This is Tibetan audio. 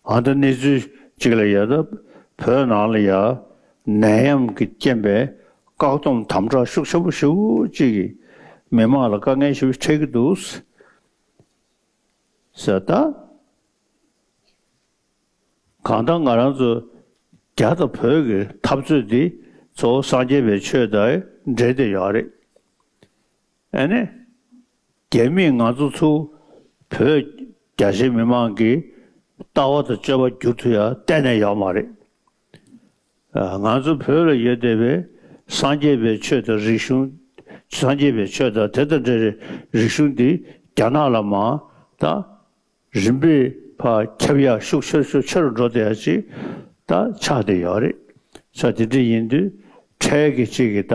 ཨ་མདོ་གནས་ཚུལ་གཅིག་ལ་ཡལ་སྟབས་བོད་ནང་ལ་ཡང་ནད་ཡམས་ཀྱི་རྐྱེན་པས་བཀག་སྡོམ་དམ་དྲག་ཤུགས་ཆེན་པོ་ཞིག་གིས་མི་མང་ལ་དཀའ་ངལ་ཞིག་འཕྲད་ཀྱི་འདུག་ཟེར་ན། གང་ལྟར་ང་རང་ཚོ་རྒྱ་དང་བོད་ཀྱི་འཐབ་རྩོད་འདི་ཚོ་སངས་རྒྱས་པའི་ཆོས་དང་འབྲེལ་དེ་ཡོད་རེད། ཨ་ནེ། རྒྱ་མིས་ང་ཚོ་ཚོ་བོད་རྒྱ་ཆེ་མི་མང་གི་ལྟ་བ་དང་སྤྱོད་པ་བསྒྱུར་ཐུབ་ཡ་གཏན་ནས་ཡོད་མ་རེད། ང་ཚོ་བོད་ལ་ཡོད་བསྡད་པའི་སངས་རྒྱས་པའི་ཆོས་དང་རིག་གཞུང་སངས་རྒྱས་པའི་ཆོས་དང་དེ་དང་འདྲ་རིག་གཞུང་འདི་རྒྱ་ནག་ལ་མ་ད་རིམ་པས་ཕ་ཁྱབ་ཡ་ཤུགས་ཆེར་ཤུགས་ཆེ་རུ་འགྲོ་བསྡད་ཡ་ཅིག་ད་ཆགས་བསྡད་ཡོད་རེད། ཆ་དེ་འདྲ་ཡིན་དུས་འཕྲལ་གྱི་ཅིག་གི་ད